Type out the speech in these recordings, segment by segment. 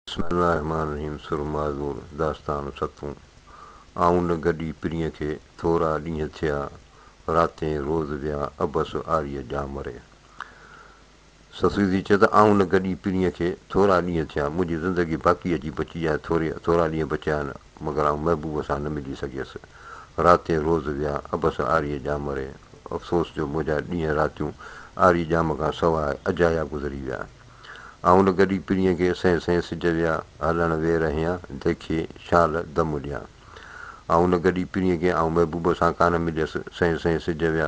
بسم الله الرحمٰن الرحيم سر معذور داستان ستون آئون نه گڏي پرينء کي ٿورا ڏينهن ٿيا راتين روز ويا عبس آريء ڄامري سسئيدي چئي ته آئون نه گڏي پرينء کي ٿورا ڏينهن ٿيا منهنجي زندگي باقي اچي بچي آهي ٿوري ٿورا ڏينهن بچيا آهن مگر آئون محبوب سان نه ملي سگهيس راتين روز ويا عبس آريء ڄامري افسوس جو منهنجا ڏينهن راتيون آري ڄام کان سواء اجايا گذري ويا. آئون ان گڏي پرينء کي سين سين سج ويا هلڻ وي رهيان ديکي شال دم ڏيان آئون ان گڏي پرينء کي آئون محبوب سان ڪانه مليس سين سين سج ويا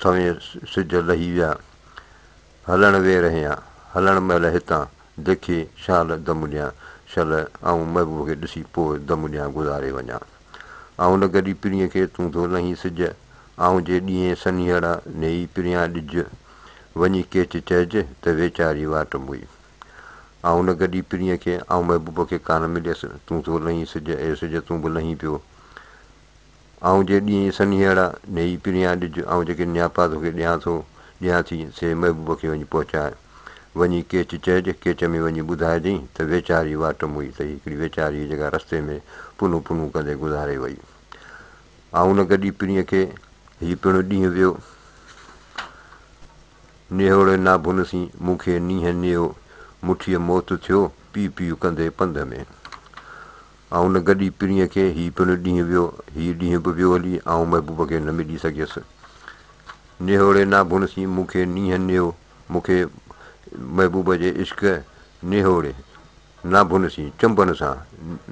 سوين سج لهي ويا هلڻ وي رهيان هلڻ مهل هتان ديکي شال دم ڏيان شل آئون محبوب کي ڏسي پوء دم ڏيان گذاري وڃان. آئون نه گڏي پرينء کي تون ٿو لهين سج آئون جي ڏينهين سنيهڙ نيئي پريان ڏج وڃي ڪيچ چئج ته ويچاري واٽ موئي آئون نه گڏي پرينء کي آئون محبوب کي ڪانه مليس تون ٿو لهين سج اي سج تون به لهين پيو آئون جي ڏينهين سنيهڙ نيئي پريان ڏج آئون جيڪي نياپا توکي ڏيان ٿو ڏيان ٿي سي محبوب کي وڃي پهچاء. وڃي ڪيچ چئج، ڪيچ ۾ وڃي ٻڌائجئين ته ويچاري واٽ موئي تئي هڪڙي ويچاري جيڪا رستي ۾ پنون پنون ڪندي گذاري وئي. آئون نه گڏي پرينء کي، هي پڻ ڏينهن ويو. نيهوڙي نا ڀن سين، مون کي نينهن نيو، مٺيء موت ٿيو، پي پي ڪندي پنڌ ۾. آئون نه گڏي پرينء کي، هي پڻ ڏينهن ويو. هي ڏينهن به ويو هلي، آئون محبوب کي نه ملي سگهيس. نيهوڙي نا ڀن سين، مون کي نينهن نيو، مون کي محبوب جي عشق نهوڙي ناڀن سين چنبن سان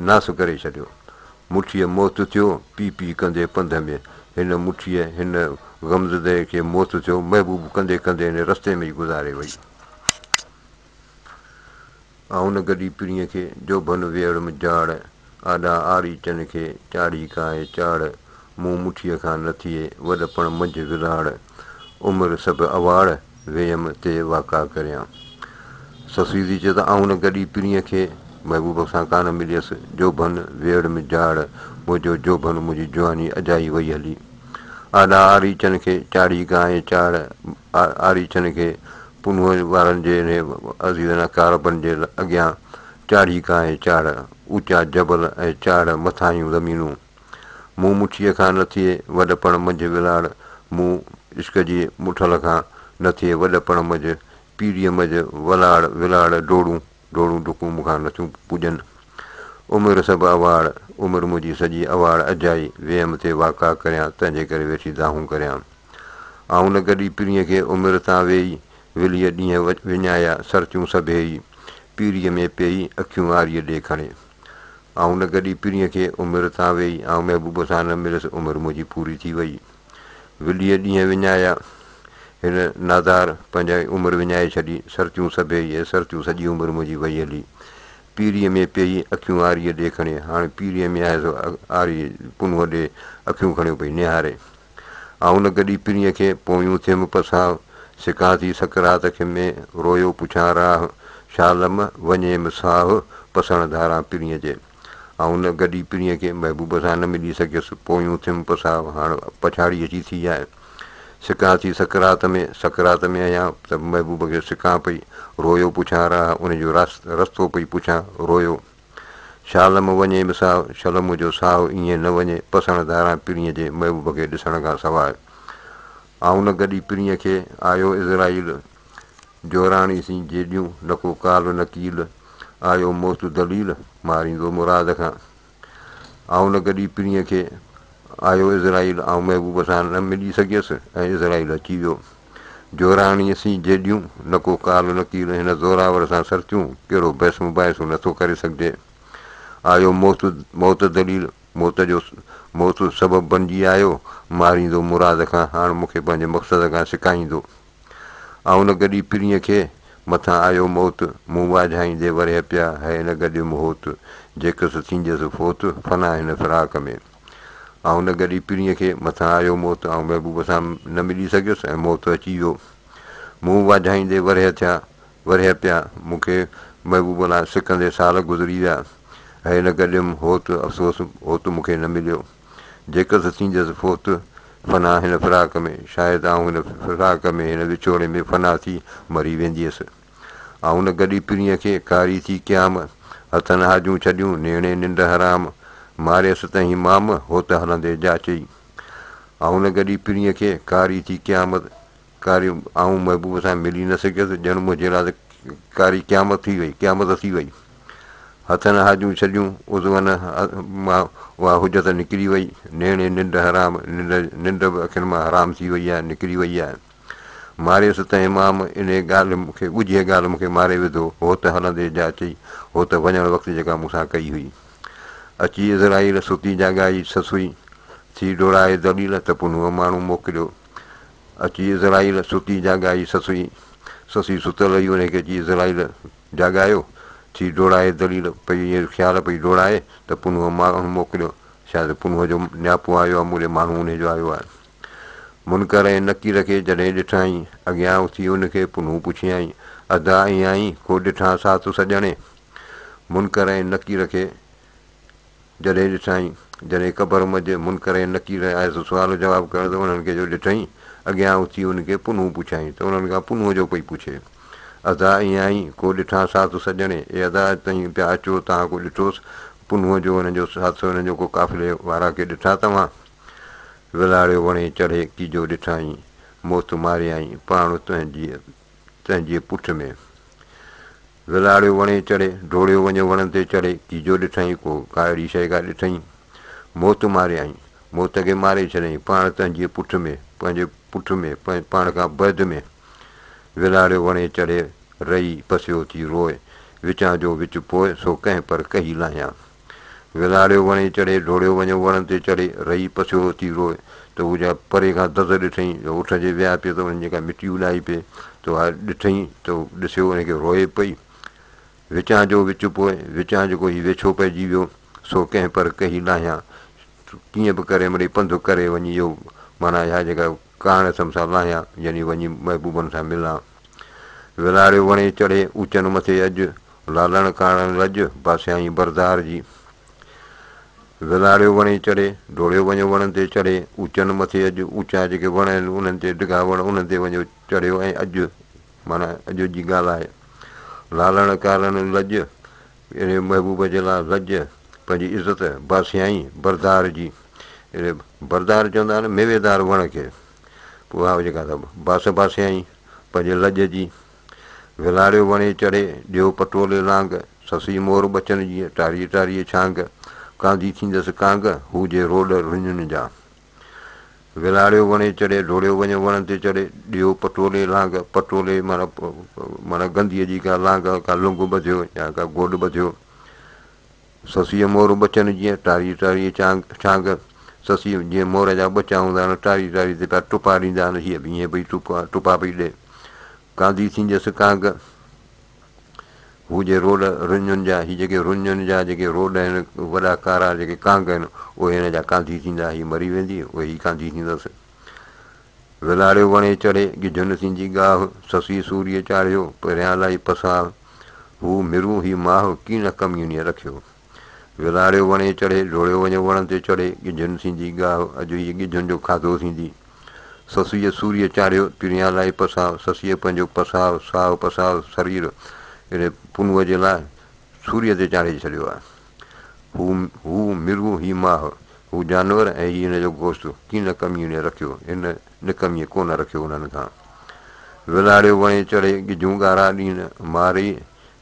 ناس ڪري ڇڏيو مٺيء موت ٿيو پي پي ڪندي پنڌ ۾ هن مٺيء هن غمزده کي موت ٿيو محبوب ڪندي ڪندي هن رستي ۾ ئي گذاري وئي. آ هن گڏي پرينء کي، جو ڀن ويڙهه م جاڙ، آڏا آري چن کي، چاڙهي ڪاهي چاڙ، مون مٺيء کان نه ٿئي، وڏ پڻ منجهه ولاڙ، عمر سڀ اواڙ، ويم تي واڪا ڪريان. سسيدي چئي ته، آ هن گڏي پرينء کي، محبوب سان ڪانه مليس، جو ڀن ويڙهه م جاڙ، منهنجو جوڀن منهنجي جواني اجائي وئي هلي، آڏا آري چن کي، چاڙهي ڪاهي چاڙ، آري چن کي، پنهور وارن جي انهي عظيمانه ڪاربن جي اڳيان چاڙهي کان هي چاڙهه، اوچا جبل ۽ چاڙهه مٿاهيون زمينون. مون مٺيء کان نه ٿئي وڏپڻ منجهه ولاڙ، مون عشق جي مٺل کان نه ٿئي وڏپڻ منجهه پيريء منجهه ولاڙ ولاڙ ڊوڙون. ڊوڙون ڊڪون مون کان نٿيون پڄن. عمر سڀ اواڙ، عمر منهنجي سڄي اواڙ اجائي، ويم ٿي واڪا ڪريان، تنهنجي ڪري ويٺي دانهون ڪريان. آئون نه گڏي پرينء کي عمر تان ويئي، وليء ڏينهن وڃايا، سرتيون سڀيئي، پيريء ۾ پيئي، اکيون آريء ڏي کڻي. آئون نه گڏي پرينء کي عمر تان ويئي، آئون محبوب سان نه مليس، عمر منهنجي پوري ٿي ويئي. ويليء ڏينهن وڃايا، هن نادار پنهنجي عمر وڃائي ڇڏي، سرتيون سڀيئي اي سرتيون سڄي عمر منهنجي وئي هلي، پيريء ۾ پيئي اکيون آريء ڏي کڻي، هاڻي پيريء ۾ آهي سو آريء پنهونء ڏي اکيون کڻيو پئي نهاري. آئون گڏي پرينء کي پويون ٿيم پساهه، سڪان ٿي سڪرات کي ۾ رويو پڇان راهه، شالم وڃيم ساهه، پسڻ ڌاران پرينء جي. آئون ان گڏي پڻيء کي محبوب سان نه ملي سگهيس. پويون اٿيم، پساهه هاڻ پڇاڙي اچي ٿي آهي. سڪان ٿي سڪرات ۾، سڪرات ۾ آهيان ته به محبوب کي سڪان پئي، روئيو پڇان راه، ان جو رستو پئي پڇان، روئيو. شالم وڃي به ساهه، شلم جو ساهه ائين نه وڃي، پسڻ ڌاران پڻيء جي محبوب کي ڏسڻ کان سواء. آئون ان گڏي پڻيء کي، آيو عزرائيل! جوراڻي سين جيڏيون، نه ڪو ڪال نه ڪيل، آيو موت دليل، ماريندو مراد کان. آئون نه گڏي پرينء کي، آيو عزرائيل، آئون محبوب سان نه ملي سگهيس ۽ عزرائيل اچي ويو. جوراڻي سين جيڏيون، نه ڪو ڪال نه ڪيل، هن زوراور سان سرتيون، ڪهڙو بحث مباحثو نه ٿو ڪري سگهجي. آيو موت موت دليل، موت جو موت سبب بنجي آيو، ماريندو مراد کان، هاڻ مون کي پنهنجي مقصد کان سڪائيندو. آء ان گڏي پرينء کي، مٿان آيو موت، مون واجهائيندي ورهيه پيا، هيء نه گڏيم هوت، جيڪس ٿينديس فوت، فنا هن فراق ۾. آء ان گڏي پرينء کي، مٿان آيو موت، آئون محبوب سان نه ملي سگهيس ۽ موت اچي ويو. مون واجهائيندي ورهيه ٿيا، ورهيه پيا، مون کي محبوب لاء سڪندي سال گذري ويا، هيء نه گڏيم هوت، افسوس هوت مون کي نه مليو. جيڪر ته ٿينديس فوت فنا هن فراق ۾، شايد آئون هن فراق ۾ هن وڇوڙي ۾ فنا ٿي مري وينديس. آئون نه گڏي پرينء کي ڪاري ٿي ڪيام، هٿن هاجون ڇڏيون نيڻي ننڊ حرام، ماريس تنهين مام هوت هلندي جاچئي. آئون نه گڏي پرينء کي ڪاري ٿي ڪيام، ڪاري آئون محبوب سان ملي نه سگهيس، ڄڻ منهنجي لاء ته ڪاري قيامت ٿي وئي، قيامت ٿي وئي. هٿن هاجون ڇڏيون، عضون مان اها حجت نڪري وئي، نيڻي ننڊ حرام، ننڊ ننڊ به اکين مان حرام ٿي وئي آهي، نڪري وئي آهي. ماريس ته امام انهيء ڳالهه مون کي ڳجهيء ڳالهه مون کي ماري وڌو، هو ته هلندي جا چئي، هو ته وڃڻ وقت جيڪا مون سان ڪئي هئي. اچي عزرائيل ستي جاڳائي سسئي ٿي ڊوڙائي دليل ته پنهونء ماڻهو موڪليو، اچي عزرائيل ستي جاڳائي سسئي، سسئي ستل هئي انهيء کي اچي عزرائيل جاڳايو، ٿي ڊوڙائي دليل پئي ائين خيال پئي ڊوڙائي ته پنهونء ماڻهو موڪليو، شايد پنهونء جو نياپو آيو آهي، موري ماڻهو انهيء جو آيو آهي. منڪر ۽ نڪير کي جڏهن ڏٺائين، اڳيان اٿي ان کي پنهون پڇيائين، ادا ائين آهين، ڪو ڏٺانء ساٿ سڄڻي؟ منڪر ۽ نڪير کي جڏهن ڏٺائين، جڏهن قبر منجهه منڪر ۽ نڪير آيا سو سوال و جواب ڪرڻ ته انهن کي جو ڏٺئين، اڳيان اٿي انهن کي پنهون پڇيائين ته انهن کان پنهون جو پئي پڇي. ادا ائين آهين، ڪو ڏٺان ساٿ سڄڻي، اي ادا اڄ تهين پيا اچو، تهان ڪو ڏٺوس؟ پنهون جو انهن جو ساٿ سو انهن جو ڪو قافلي وارا ڪي ڏٺا توهان؟ ولاڙيو وڻي چڙهي ڪي جو ڏٺائين، موت ماريائين، پاڻ تنهنجي تنهنجي پٺ ۾. ولاڙيو وڻي چڙهي، ڊوڙيو وڃيو وڻن تي چڙهي، تيجو ڏٺئين ڪو ڪائڙي شيء ڪا ڏٺئين، موت ماريائين، موت کي ماري ڇڏيائين، پاڻ تنهنجي پٺ ۾، پنهنجي پٺ ۾، پاڻ کان بعد ۾، ولاڙيو وڻي چڙهي، رئي پسيو ٿي روء، وچان جو وچ پوء، سو ڪنهن پر ڪهي لاهيان. ويلاڙيو وڻي چڙهي، ڊوڙيو وڃيو وڻن تي چڙهي، رئي پسيورو ٿي روئي، ته هو جا پري کان دز ڏٺئين، جو اٺ جي ويا پئي ته انهن جيڪا مٽي اڏائي پئي، ته اها ڏٺئين، ته هو ڏسيو انهي کي روئي پئي. وچان جو وچ پوء، وچان جيڪو هي ويڇو پئجي ويو، سو ڪنهن پر ڪهي لاهيان، ڪيئن به ڪري مڙئي پنڌ ڪري وڃي اهو، معنيٰ اها جيڪا ڪاڻ سم سان لاهيان، جني وڃي محبوبن سان ملان. ولاريو وڻي چڙهي، اوچن مٿي اڄ، لالڻ ڪاڻڻ لڄ، باسيائين برزار جي. ولاريو وڻي چڙهي، ڊوڙيو وڃو وڻن تي چڙهي، اوچن مٿي اڄ، اوچا جيڪي وڻ آهن انهن تي ڊگها وڻ انهن تي وڃو چڙهيو ۽ اڄ معنيٰ اڄ جي ڳالهه آهي. لالڻ ڪاڻڻ لڄ، اهڙي محبوب جي لا لڄ پنهنجي عزت باسيائين بردار جي اهڙي بردار چوندا آهن ميوي دار وڻ کي پوء هاء جيڪا ته باس باسيائين پنهنجي لڄ جي ولاڙيو وڻي چڙهي ڏيو پٽولي لانگ سسئي مور ٻچن جيئن ٽاريء ٽاريء ڇانگ ڪانڌي ٿيندس ڪانگ هو جي روڏ رڃن جا. وراڙيو وڻي چڙهي، ڊوڙيو وڃ وڻ تي چڙهي، ڏيو پٽولي لانگ، پٽولي معنيٰ معنيٰ گنديء جي ڪا لانگ، ڪا لنگهه ٻڌيو يا ڪا گوڏ ٻڌيو. سسيء مور ٻچن جيئن، ٽاريء ٽاريء چانگ چانگ، سسيء جيئن مور جا ٻچا هوندا آهن، ٽاري ٽاري تي پيا ٽپا ڏيندا آهن، هيء به ائين پئي ٽپا ٽپا پئي ڏئي. ڪانڌي ٿينديس ڪانگ، هو جي روڊ رڃن جا هي جيڪي رڃن جا جيڪي روڊ آهن وڏا ڪارا جيڪي ڪانگ آهن اهي هن جا ڪانڌي ٿيندا هي مري ويندي اهي هي ڪانڌي ٿيندس ولاڙيو وڻي چڙهي ڳجهن ٿيندي ڳاهه سسي سوريء چاڙهيو پريان لائي پساهه هو مرون هي ماهه ڪين ڪميونيء رکيو وراڙيو وڻي چڙهي، ڊوڙيو وڃو وڻ تي چڙهي، ڳجهن ٿيندي ڳاهه، اڄ هيء ڳجهن جو کاڌو ٿيندي. سسئيء سوريء چاڙهيو، پريان لائي پساهه، سسئيء پنهنجو پساهه، ساهه پساهه، سرير اهڙي پنهونء جي لاء سوريء تي چاڙهي ڇڏيو آهي. هو هو مرغ، هي ماهه، هو جانور ۽ هي هن جو گوشت، ڪي نه ڪميڻي رکيو، هن نڪميء ڪونه رکيو انهن کان. وراڙيو وڻي چڙهي، ڳجهون ڳارا ڏين ماري،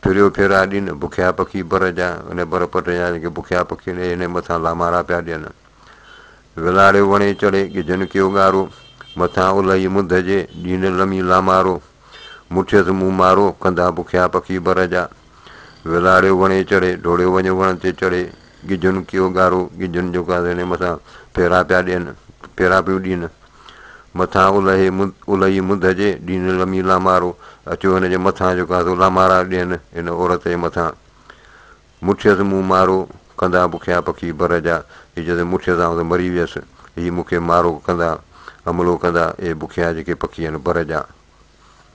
پھريو پھرا ڏين بکيا پکي بر جا ان بر پٽ جا جيڪي بکيا پکي ان جي مٿان لامارا پيا ڏين. ولاڙيو وڻي چڙھي ڳجھن ڪيو ڳارو مٿان الھي مڌ جي ڏين لمي لامارو مٺيس مون مارو ڪندا بکيا پکي بر جا. ولاڙيو وڻي چڙھي ڊوڙيو وڃ وڻ تي چڙھي ڳجھن ڪيو ڳارو ڳجھن جو ڪا ان جي مٿان پھرا پيا ڏين پھرا پيون ڏين. مٿان الهي الهي مدح جي، ڏين لمي لامارو، اچو هن جي مٿان جو ڪاسو لامارا ڏين ان عورت جي مٿان، مٺيس مون مارو، ڪندا بکيا پکي بر جا، هي جڏهن مٺيس آئون ته مري ويس، هي مون کي مارو ڪندا، حملو ڪندا، اي بکيا جيڪي پکي آهن بر جا.